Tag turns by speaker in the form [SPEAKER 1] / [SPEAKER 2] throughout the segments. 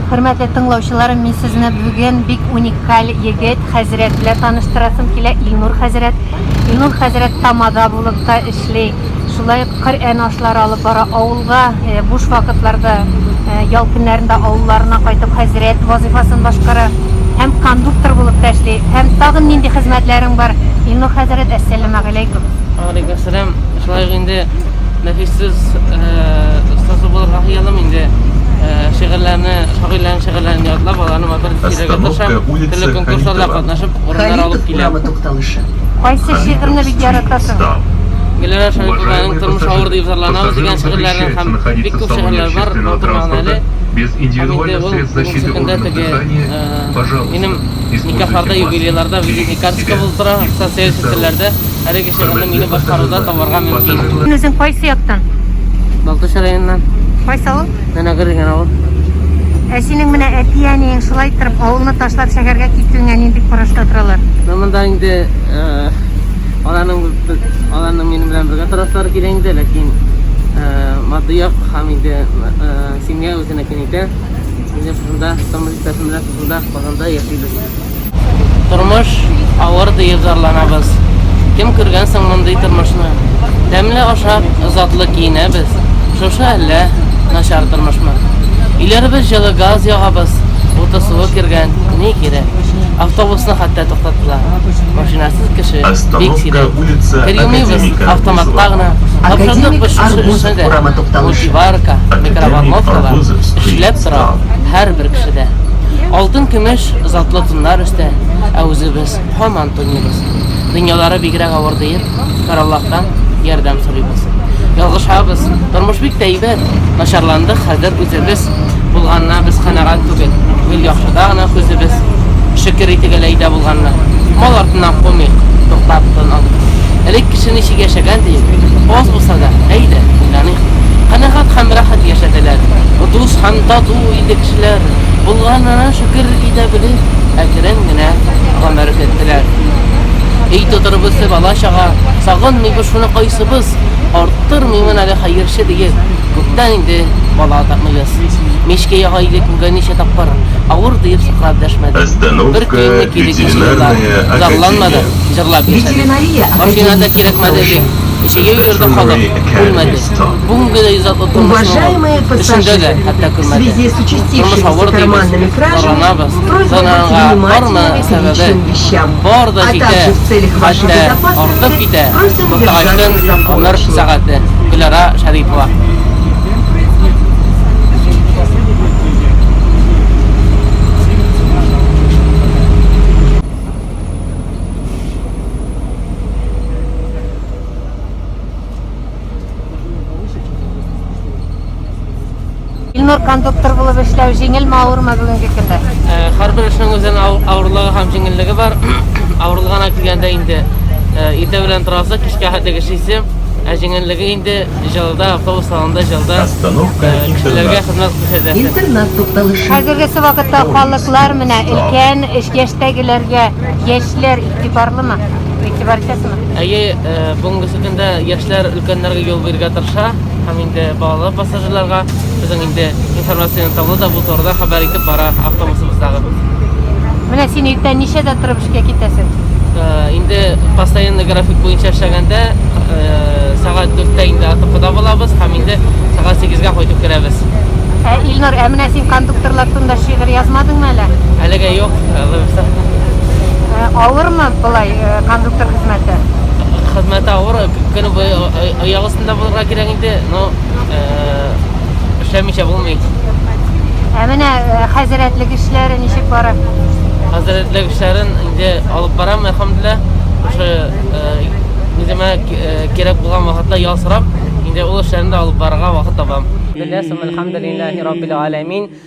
[SPEAKER 1] Хөрмәтле тыңлаучыларым, мин сезне бүген бик уникаль егет хәзрәт белән таныштырасым килә, Илнур хәзрәт. Илнур хәзрәт тамада булып та эшли. Шулай ук Коръән ашлары алып бара авылга, э, буш вакытларда, э, ял көннәрендә авылларына кайтып хәзрәт вазифасын башкара һәм кондуктор булып та эшли. Һәм тагын нинди хезмәтләрең бар? Илнур хәзрәт, әссәламәгаләйкүм. Алейкум сәлам.
[SPEAKER 2] Шулай ук инде нәфиссез остасы булырга хыялым инде. Шигырьләрне, шагыйрьләрнең шигырьләрен ятлап, аларны матур итеп сөйләргә тырышам. Төрле конкурсларда катнашып, урыннар алып киләм. Кайсы
[SPEAKER 1] шигырьне бик яратасың? Гөләнә
[SPEAKER 2] Шәрипованың Тормыш авыр дип зарланабыз дигән шигырьләрен һәм бик күп шигырьләр бар, матур мәгънәле. Һәм инде
[SPEAKER 3] ул бүгенге көндә теге, минем
[SPEAKER 2] никахларда, юбилейларда визитный карточка булып тора, социаль челтәрләрдә. Чыгымны мине башкаруда табарга мөмкин. Син үзең кайсы яктан?
[SPEAKER 1] Балтач
[SPEAKER 2] районыннан. Кайсы авыл?
[SPEAKER 1] Мәнәгыр дигән авыл.
[SPEAKER 2] Ә синең
[SPEAKER 1] менә әти-әниең шулай торып авылны ташлап шәһәргә китүеңә нинди карашта торалар? Менә монда инде
[SPEAKER 2] э, аларның аларның минем белән бергә торасылары килә инде, ләкин э, матди як һәм инде э, семья үзенекен итә. Инде шунда тормыш иптәшем белән шунда Казанда яшибез. Тормыш авыр диеп зарланабыз. Кем күргән соң мондый тормышны? Тәмле ашап, затлы киенәбез. Шушы әллә начар тормышмы? Өйләребез җылы газ ягабыз, уты суы кергән, ни кирәк? Автобусны хәтта туктаттылар. Машинасыз кеше бик сирәк. Кыримыйбыз автоматка гына. Тапшырдык без шушы эшне дә. Мультиварка, микроволновкалар эшләп тора һәрбер кешедә. Алтын-көмеш затлы туннар өстә, ә үзебез һаман туныйбыз. Дөньялары бигрәк авыр диеп, Караллаһтан ярдәм сорыйбыз. Ялгышабыз, тормыш бик тә әйбәт, начарландык хәзер үзебез, булганына без канәгать түгел, гел яхшыда гына күзебез, шөкер итик әле әйдә булганына. Мал артыннан кумыйк, туктап тын алыйк. Элек кеше ничек яшәгән диеп, аз булса да, әйдә, уйланыйк. Канәгать һәм рәхәт яшәделәр, дус һәм тату иде кешеләр. Булганына шөкер итә бели, әкрен генә гомер көттеләр. Өй тотырбызчы бала-чага сагынмыйбыз шуны кайсыбыз, арттырмыймын әле хәерче диеп, күптән инде бала тапмыйбыз. Мичкә яга иде күгә ничә тапкыр, авыр диеп сыкрап дәшмәде. Бер көенне кире кичте дә, зарланмады, җырлап яшәде. Машина да кирәкмәде дип, җәяү йөрде халык, үлмәде. бүгенге дә иҗатлы тормышның эчендә дә, хәтта күрмәдә. Тормыш авыр дибез, таранабыз, таранга барма сәбәбе, бар да җитә, хәтта артып китә, Кортагачтын гомер сәгате, Гөлара Шәрипова.
[SPEAKER 1] Илнур кондуктор булып эшләү җиңелме, авырмы бүгенге көндә? Э, Һәрбер эшнең
[SPEAKER 2] үзенә авырлыгы һәм җиңеллеге бар. Авырлыгына килгәндә инде э, иртә белән торасы, кичкә хәтле эшлисе. Ә җиңеллеге инде җылда, автобус салонында җылда э, кешеләргә хезмәт күрсәтәсе. Интернет тукталышы. Хәзергесе вакытта
[SPEAKER 1] халыклар менә өлкән яшьтәгеләргә Яшьләр игътибарлымы? Игътибар итәсезме? Әйе, э,
[SPEAKER 2] бүгенге көндә яшьләр өлкәннәргә юл бирергә тырыша һәм инде балалы пассажирларга безнең инде информацион табло да бу турыда хәбәр итеп бара автобусыбыздагы.
[SPEAKER 1] Менә син иртән ничәдә торып эшкә китәсең? Э, инде
[SPEAKER 2] постоянный график буенча эшләгәндә э, сәгать 4-тә инде АТПда булабыз һәм инде сәгать 8-гә кайтып керәбез. Ә Илнур,
[SPEAKER 1] ә менә син кондукторлар турында шигырь язмадыңмы әле? Әлегә юк,
[SPEAKER 2] Э,
[SPEAKER 1] Авырмы былай э, кондуктор хезмәте? Хезмәте
[SPEAKER 2] авыр, көне буе аяк астында булырга кирәк инде, но э, эшләмичә булмый. Ә
[SPEAKER 1] менә э, хәзрәтлек эшләре ничек бара? Хәзрәтлек
[SPEAKER 2] эшләрен инде алып барам, әлхәмдүлилла. Ошо үземә кирәк булган вакытта ял сорап, инде ул эшләрне дә алып барырга вакыт табам. Диләсем, әлхәмдүлиллаһи раббил аләмин.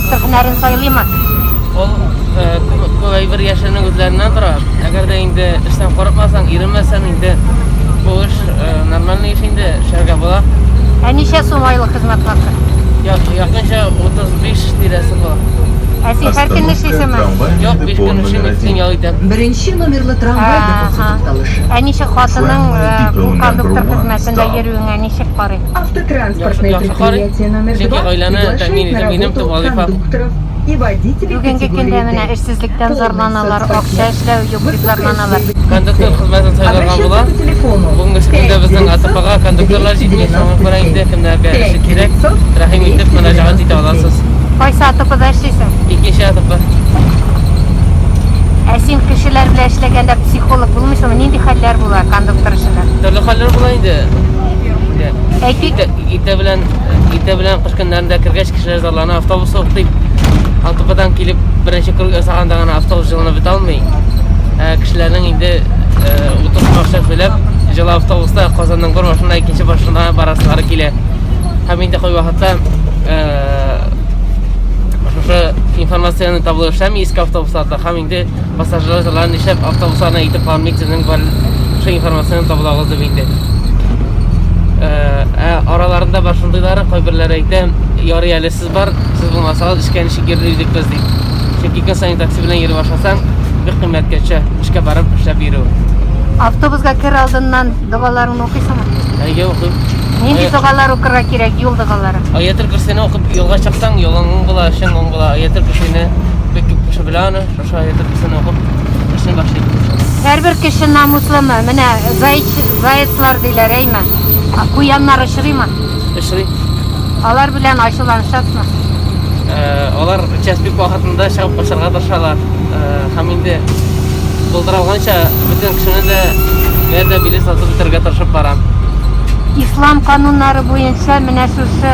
[SPEAKER 1] Тел һөнәрен
[SPEAKER 2] сайлыймы? Ул күбәйбер яшеренең үзләреннән тора. Әгәр дә инде эштән курыкмасаң, иренмәсәң инде бу эш
[SPEAKER 1] нормальный
[SPEAKER 2] эш инде, эшләргә була. Ә ничә
[SPEAKER 1] сум айлык
[SPEAKER 2] хезмәт хакы? Якынча 35 тирәсе була. Ә син һәр көн эшлисеңме?
[SPEAKER 1] Юк, биш көн
[SPEAKER 2] эшлим, икесен ял итәм. Беренче номерлы трамвай депосы
[SPEAKER 4] тукталышы. Ә ничек хатының
[SPEAKER 1] бу кондуктор хезмәтендә йөрүеңә ничек карый?
[SPEAKER 4] Автотранспортное
[SPEAKER 2] предприятие
[SPEAKER 4] номер 2 приглашает
[SPEAKER 2] на
[SPEAKER 4] работу
[SPEAKER 2] кондукторов и водителей
[SPEAKER 4] Бүгенге көндә менә
[SPEAKER 1] эшсезлектән
[SPEAKER 4] зарланалар,
[SPEAKER 1] акча эшләү юк дип зарланалар. Кондуктор хезмәтен
[SPEAKER 2] сайларга була.
[SPEAKER 4] Бүгенге көндә безнең
[SPEAKER 2] АТПга кондукторлар җитми, соңга күрә инде кемнәргә эше кирәк, рәхим итеп мөрәҗәгать итә аласыз. Кайсы АТПда
[SPEAKER 1] эшлисең? Икенче АТП. Ә син кешеләр белән эшләгәндә психолог булмыйсыңмы? Нинди хәлләр була кондуктор эшендә? Төрле хәлләр була инде. Инде Әйтик. Иртә белән
[SPEAKER 2] иртә белән кыш көннәрендә кергәч кешеләр зарлана, автобус сук дип. Алтыпадан килеп беренче круг ясаганда гына автобус җылынып бетә алмый. Ә, кешеләрнең инде утыз башта сөйләп, җылы автобуста Казанның бер башына икенче башына барасылары килә. Һәм инде кой вакытта шушы информацияне табылышлар иске автобусларда һәм инде Пассажирлар нишләп автобусларына итеп кармыйсының бар шул информацияне табылагыз дип инде. Ә араларында бар шундыйлары кайберләре әйтә, ярый әле сез бар, сез булмасагыз эшкә ничек йөрер идек без дип. Чөнки көн саен такси белән йөри башласаң, бик кыйммәткә төшә эшкә барып эшләп йөрү. Автобусга
[SPEAKER 1] кер алдыннан догаларыңны укыйсыңмы? Әйе, укыйм.
[SPEAKER 2] Нинди догалар
[SPEAKER 1] укырга кирәк, юл догалары? Аятел көрсене укып
[SPEAKER 2] юлга чыксаң, юлың уң була, эшең уң була. Аятел көрсене бик күп кеше белә аны. Шулай итеп исән алып эшне башлыйбыз иншалла. Һәрбер кеше
[SPEAKER 1] намуслымы? Менә зайч, заяцлар диләр, әйме? А куяннар очрыймы? Очрый.
[SPEAKER 2] Алар
[SPEAKER 1] белән ачуланышасызмы?
[SPEAKER 2] Алар участок вакытында чыгып качарга тырышалар. Һәм инде булдыралганча бөтен кешене дә бәрдә биле сатып бетерергә тырышып барам. Ислам
[SPEAKER 1] кануннары буенча менә шушы